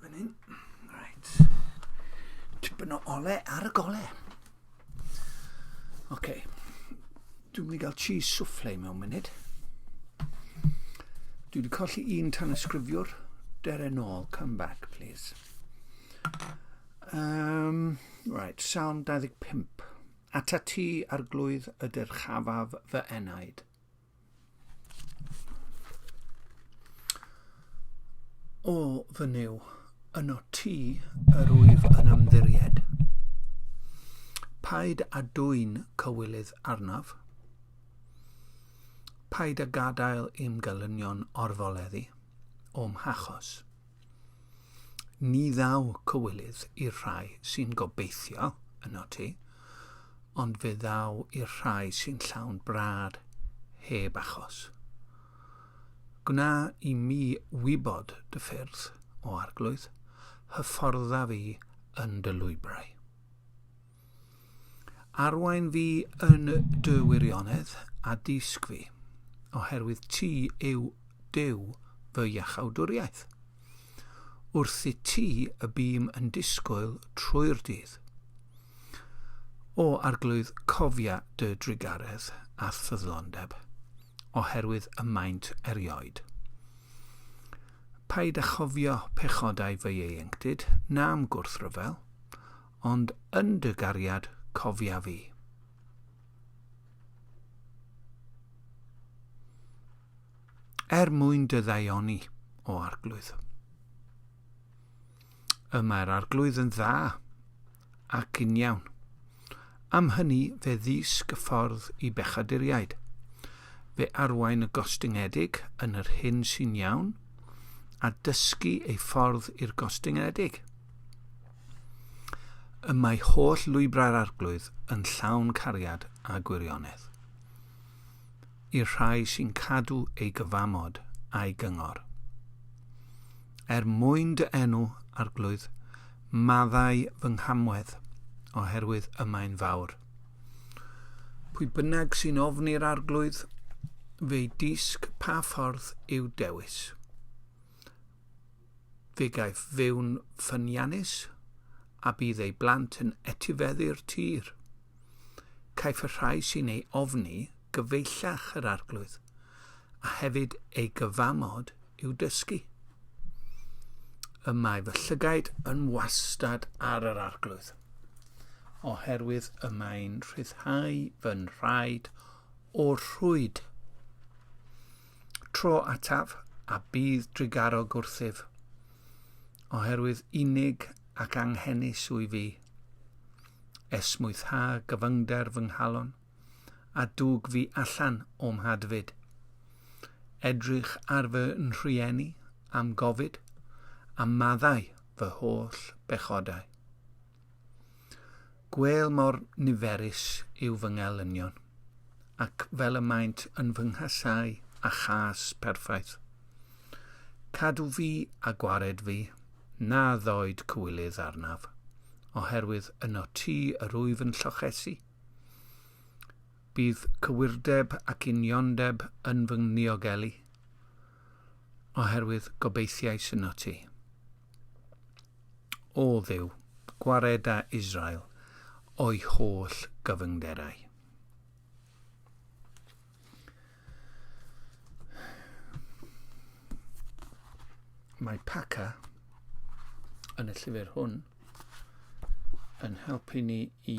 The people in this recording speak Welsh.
Fan hyn. Reit. Tipyn o ole ar y gole. Oce. Okay. Dwi'n mynd i gael cheese souffle mewn munud. Dwi wedi colli un tan ysgrifiwr. Dere nôl. Come back, please. Um, right, Salm 25. Ata ti arglwydd ydy'r chafaf fy enaid. O fy Nuw, yno Ti yr wyf yn ymddiried. Paid â dwyn cywilydd arnaf. Paid â gadael i'm gelynion orfoleddu o'm hachos. Ni ddaw cywilydd i'r rhai sy'n gobeithio yno ti, ond fe ddaw i'r rhai sy'n llawn brad heb achos. Gwna i mi wybod dy ffyrdd, o arglwydd, hyfforddaf i yn dy lwybrau. Arwain fi yn dy wirionedd a dysg fi, oherwydd ti yw Duw fy iachawdwriaeth. Wrth i ti y bîm yn disgwyl trwy'r dydd. O arglwydd, cofia dy drugaredd a ffyddlondeb, oherwydd y maent erioed. Paid a chofio pechodau fy ieuenctid, na'm gwrthryfel, Ond yn dy gariad cofia fi. Er mwyn dy ddaioni, o arglwydd. Y mae'r arglwydd yn dda ac yn iawn. Am hynny fe ddisg y ffordd i bechaduriaid. Fe arwain y gostyngedig yn yr hyn sy'n iawn, a dysgu ei ffordd i'r gostyngedig. Y mae holl lwybrau'r arglwydd yn llawn cariad a gwirionedd. I'r rhai sy'n cadw ei gyfamod a'i gyngor. Er mwyn dy enw, arglwydd, maddau fy nghamwedd, oherwydd y mae'n fawr. Pwy bynnag sy'n ofni'r arglwydd, fe'i disg pa ffordd i'w dewis. Fe gaiff fyw'n ffyniannus, a bydd ei blant yn etifeddu'r tir. Caiff y rhai sy'n ei ofni gyfeillach yr arglwydd, a hefyd ei gyfamod i'w dysgu. Y mae fy llygaid yn wastad ar yr arglwydd, oherwydd y mae'n rhyddhau fy nhraed o'r rhwyd. tro ataf a bydd drigaro gwrthyf, oherwydd unig ac anghenus wy fi. Esmwytha gyfyngder fy nghalon, a dwg fi allan o'm hadfyd. Edrych ar fy nhrieni am gofid, a maddau fy holl bechodau. Gwell mor niferus yw fy ngelynion, ac fel y maent yn fy nghasau a chas perffaith. Cadw fi a gwared fi, na ddoed cywilydd arnaf, oherwydd yno ti yr wyf yn llochesu. Bydd cywirdeb ac uniondeb yn fy ngniogelu, oherwydd gobeithiais yno ti. O Dduw, gwared â Israel o'i holl gyfyngderau. Mae Paca yn y llyfr hwn yn helpu ni i